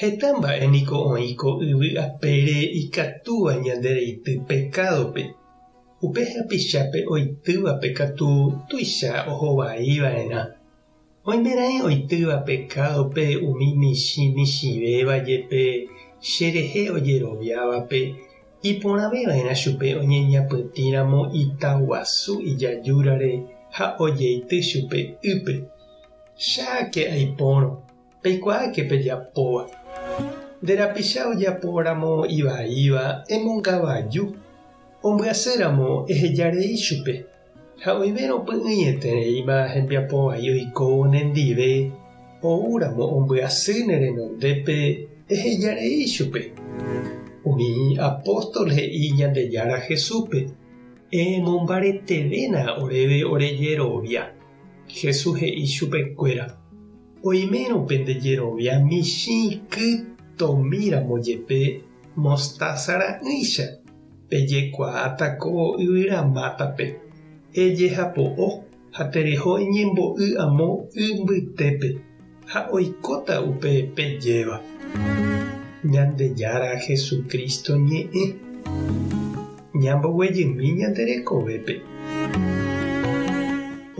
Heta mba'e niko oĩ ko yvy apére ikatúva ñande reity pekádope. Upe hapichápe oitývape katu tuicha ohovái va'erã. Oimeraẽ oitýva pekádope umi michĩ michĩvéva jepe cherehe ojeroviávape, iporãve va'erã chupe oñeñapytĩ ramo ita guasu ijajúrare ha ojeity chupe ýpe. Cháke aipórõ, Peikuaáke pejapóva. Nde rapicha ojapóramo ivaíva emongavaju, ombyaséramo eheja rei chupe, ha oĩvérõ py'ỹietereíma hembiapo vai oikóvo nendive, oúramo ombyasy ne renondépe, eheja rei chupe. Umi apóstol he'i Ñandejára Jesúspe, Emombaretevéna oréve ore jerovia. Jesús he'i chupekuéra. Oimérõ pende jerovia michĩ iky tomíramo jepe mostása ra'ỹicha, pejekuaáta ko yvyra mátape, ejehapo'o ha tereho eñembo'y amo y mbytépe, ha oikóta upe pejéva. Ñandejára Jesucristo ñe'ẽ. Ñamboguejymi ñande rekovépe.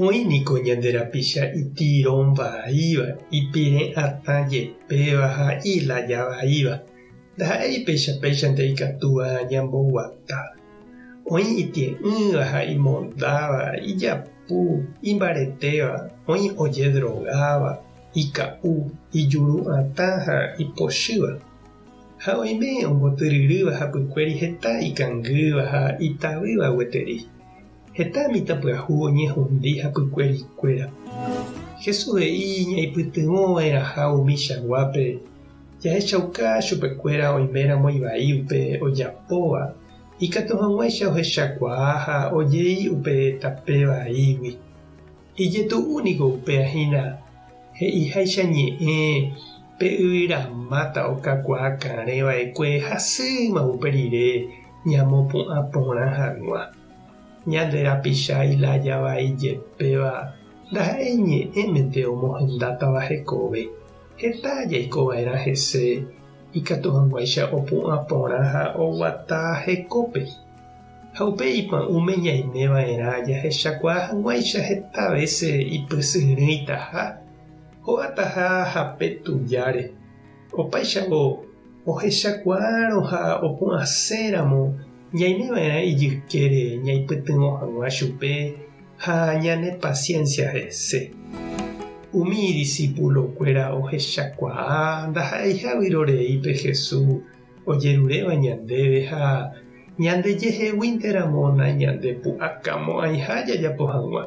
Oĩ niko ñande rapicha itirõ vaíva, ipirẽ atã jepéva ha ilaya vaíva. Ndaha'éi péicha péichante ikatúva ñamboguata. Oĩ itie'ỹva ha imondáva, ijapu, imbaretéva, oĩ ojedrogáva, ika'u, ijuru'atã ha ipochýva. Ha oime ombotyryrýva hapykuéri heta ikangýva ha itavýva gueteri. Heta mitãpyahu oñehundi hapykuéri kuéra. Jesús he'i ñaipytyvõ va'erãha umi chaguápe jahechauka chupekuéra oiméramo ivai upe ojapóva, ikatu hag̃uáicha ohechakuaa ha ojei upe tape vaígui. Ijetu'u niko upéva hína he'iháicha ñe'ẽ pe yvyra máta okakuaa karẽ vaekue hasýma upe rire ñamopu'ã porã hag̃ua. Ñande rapicha ilája vai jepéva ndaha'éi ñe'ẽmente omohendátava hekove, heta jaiko va'erã hese ikatu hag̃uáicha opu'ã porã ha oguata hekópe. Ha upe ipu'ã'ũme ñaimeva'erã jahechakuaa hag̃uáicha heta vése ipysyrỹitaha, hogataha hape tujáre. Opáichavo, ohechakuaárõ ha opu'ãséramo ñaimeva'erã ijykére ñaipytyvõ hag̃ua chupe ha ñanepasiénsia hese. Umi idisipulokuéra ohechakuaa ndaha'eiha vyrorei pe Jesús ojeruréva ñandéve ha ñandejeheguínteramo nañandepu'akamo'ãiha jajapo hag̃ua.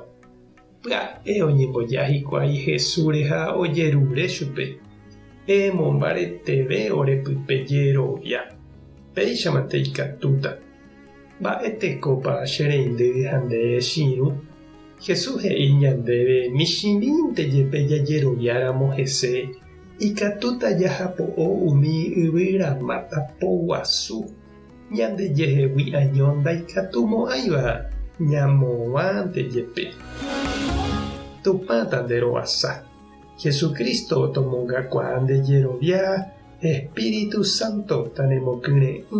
Pya'e oñemboja hikuái Jesúsre ha ojerure chupe, Peẽmo mbareteve ore pype jerovia, péichamante ikatúta. Mba'e tekópa che reindy ha nde rechirũ? Jesús he'i ñandéve michĩmínte jepe jajeroviáramo hese. Ikatúta jahapo'o umi yvyra máta po guasu, ñandejehegui año ndaikatumo'ãiva ñamoguãnte jepe. Tupã tanderovasa, Jesucristo tomongakuaa nde jerovia Espíritu Santo tanemokyre'ỹ.